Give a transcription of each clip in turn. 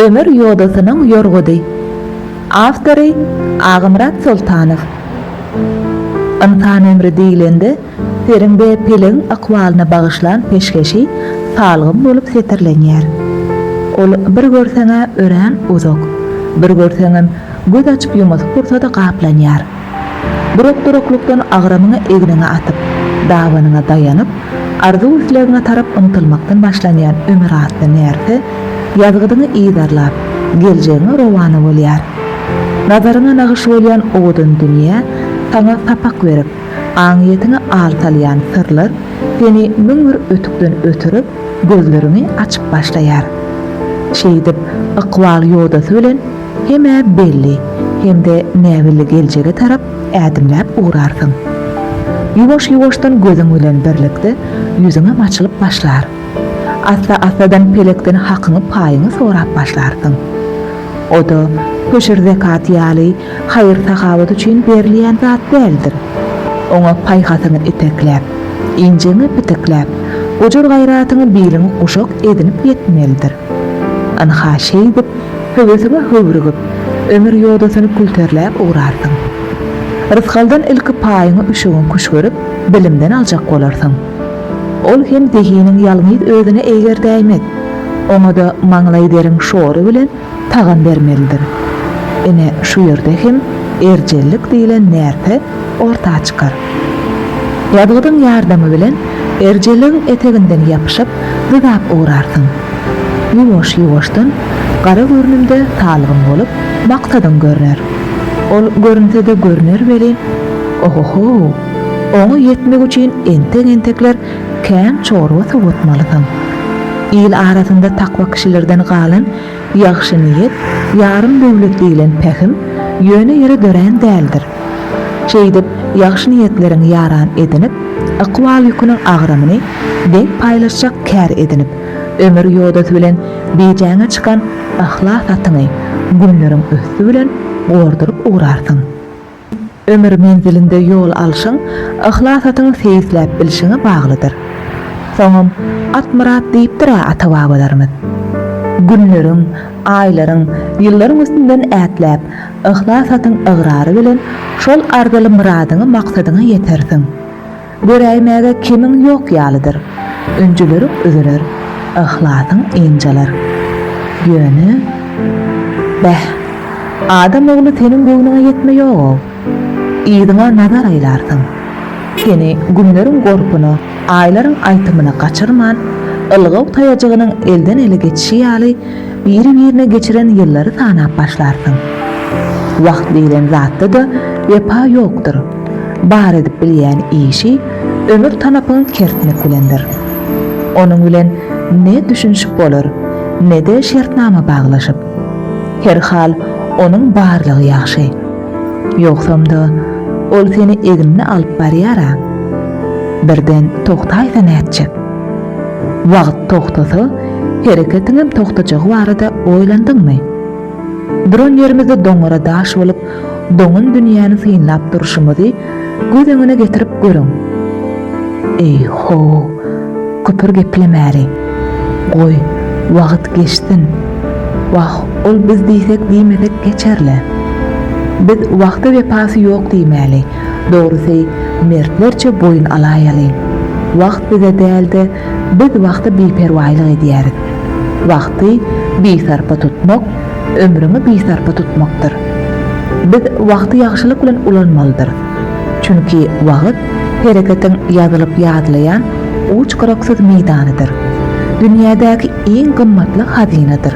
Ömür ýodasynyň ýorgudy. Awtory, Agamyrat Soltanow. Ynsan ömri diýlende, seriň we pelegiň ykbalyna bagyşlan peşgeşi salgym bolup setirlenýär. Ol bir görseň-ä örän uzak, bir görseňem göz açyp-ýumasy pursady gaplanýar. Durak-duraklykdan agramyňy egniňe atyp, dabanyňa daýanyp, arzuw-islegiňe tarap ymtylmakdan başlanýan ömür atly närse ýazgydyňy yzarlap, geljegiňe rowana bolýar. Nazaryňa nagyş bolýan owadan dünýä saňa sapak berip, aňyýetiňe al salýan syrlar seni müň bir ötükden ötürip, gözleriňi açyp başlaýar. Şeýdip, ykbal ýodasy bilen Hem-ä belli, hem-de näbelli geljege tarap ädimläp ugrarsyň. Ýuwaş-ýuwaşdan gözüň bilen birlikde ýüzüňem açylyp başlar. Assa-assadan pelekden hakyňy-paýyňy sorap başlarsyň. O-da höşür-zekat ýaly haýyr-sahawat üçin berilýän zat däldir. Oňa paýhasyňy itekläp, injiňi pitikläp, gujur-gaýratyňy biliňi guşak edinip ýetmelidir. Ynha, şeýdip, höwesiňe höwrügip, ömür ýodasyny külterläp ugrarsyň. Rysgaldan ilki paýyňy üşügiň küşgürip, bilimden aljak bolarsyň. Ol hem zehiniň ýalňyz özüne eýgerdäýmez. Oňa-da maňlaý deriň şory bilen tagam bermelidir. Ine, şu ýerde hem erjellik diýlen närse orta çykar. Ýazgydyň ýardamy bilen erjeligiň eteginden ýapyşyp, dyzap ugrarsyň. Ýuwaş-ýuwaşdan gara görnümde salgym bolup, maksadyň görner. Ol görünse-de görner welin, oho-how, oňa ýetmek üçin entek-entekler kän çorba sowatmalysyň. Il arasynda takwa kişilerden galan Ýagşy niýet, ýarym döwlet diýlen pähim ýöne ýere dörän däldir. Şeýdip, ýagşy niýetleriňi ýaran edinip, ykbal ýüküniň agramyny deň paýlaşjak kär edinip, ömür ýodasy bilen bijäňe çykan yhlas atyňy günleriň üsti bilen gorduryp ugrarsyň. Ömür menzilinde ýol alşyň yhlasatyňy seýisläp bilşiňe baglydyr. Soňam Atmyrat diýipdir-ä ata-babalarymyz. Günleriň, aýlaryň, ýyllaryň üstünden ätläp, yhlasatyň ygrary bilen şol arzyly myradyňa-maksadyňa ýetersiň. Göräýmäge kemiň ýok ýalydyr. Ünjülerik üzüler, yhlasyň ynjalar. Ýöne, beh, adam ogly seniň göwnüňe ýetme ýog-ow. Yzyňa nazar aýlarsyň. Seni günleriň gorpuna, aýlaryň aýtymyna gaçyrman, ylgaw taýajygynyň elden-ele geçişi ýaly Biri-birine geçiren ýyllary sanap başlarsyň. Wagt diýlen zatda-da wepa ýokdur. Bar edip bilýän işi ömür tanapyňy kertmek bilendir. Onuň bilen ne düşünişip bolar, ne-de şertnama baglaşyp. Her hal, onuň barlygy ýagşy. Ýogsam-da, ol seni egnine alyp barýar-a. Birden togtaýsa nätjek? Wagt togtasa, hereketiňem togtajagy barada oýlandyňmy? Duran ýerimizde doňňara daş bolup, doňan dünýäni synlap durşumyzy göz öňüne getirip görüň. Eý-ho, köpür geplemäli. Goý, wagt geçsin. Wah, ol biz diýsek-diýmesek geçer-le. Biz wagta wepasy ýok diýmäli. Dogrusy, mertlerçe boýun alaýalyň. Wagt bize däl-de, biz wagta biperwaýlyk edýäris. Wagty bisarpa tutmak, ömrüňi bisarpa tutmakdyr. Biz wagty ýagşylyk bilen ulanmalydyrys. Çünki wagt hereketiň ýazylyp ýadlaýan uç-gyraksyz meýdanydyr. Dünýädäki iň gymmatly hazynadyr.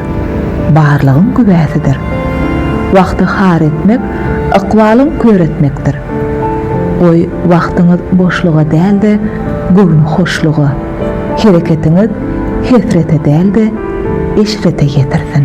Barlygyň güwäsidir. Wagty har etmek Ykbalyň kör etmekdir. Goý, wagtyňyz boşluga däl-de, göwni hoşluga, hereketiňiz hesrete däl-de, eşrete ýetirsin.